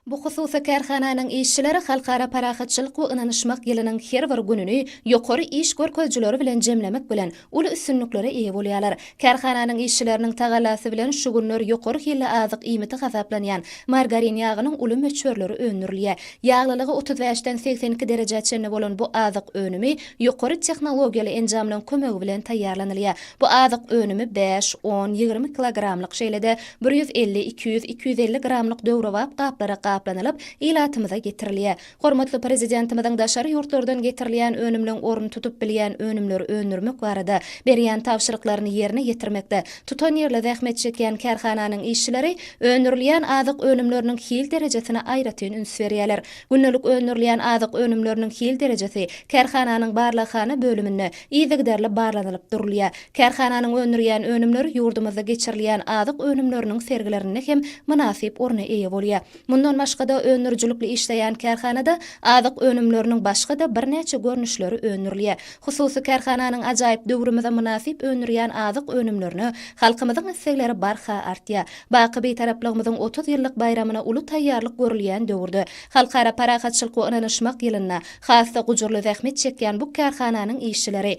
Bu hususy kärhananyň işçileri Halkara parahatçylyk we ynanyşmak ýylynyň her bir gününi ýokary iş görkezijileri bilen jemlemek bilen, uly üstünliklere eýe bolýarlar. Kärhananyň işçileriniň tagallasy bilen şu günler ýokary hilli azyk iýmiti hasaplanýan margarin ýagynyň uly möçberleri öndürilýär. Ýaglylygy otuz bäşden segsen iki derejä çenli bolan bu azyk önümi ýokary tehnologiýaly enjamlaryň kömegi bilen taýýarlanylýar. Bu azyk önümi bäş, on, ýigrimi kilogramlyk, şeýle-de, Bir ýüz elli, iki ýüz, iki ýüz elli gramlyk döwrebap gaplara gaplanylyp, ilatymyza getirilýär. Hormatly Prezidentimiziň daşary ýurtlardan getirilýän önümleň ornuny tutup bilýän önümleri öndürmek barada berýän tabşyryklaryny ýerine ýetirmekde tutanýerli zähmet çekýän kärhananyň işçileri öndürilýän azyk önümleriniň hil derejesine aýratyn üns berýärler. Gündelik öndürilýän azyk önümleriniň hil derejesi kärhananyň barlaghana bölüminde yzygiderli barlanylyp durulýar. Kärhananyň öndürýän önümleri ýurdumyzda geçirilýän azyk önümleriniň sergilerinde hem mynasyp orna eýe bolýar. Mundan başga-da, öndürijilikli işleýän kärhanada azyk önümleriniň başga-da birnäçe görnüşleri öndürilýär. Hususy kärhananyň ajaýyp döwrümize mynasyp öndürýän azyk önümlerine halkymyzyň islegleri barha artýar. Baky Bitaraplygymyzyň otuz ýyllyk baýramyna uly taýýarlyk görülýän döwürde, Halkara parahatçylyk we ynanyşmak ýylynda has-da gujurly zähmet çekýän bu kärhananyň işçileri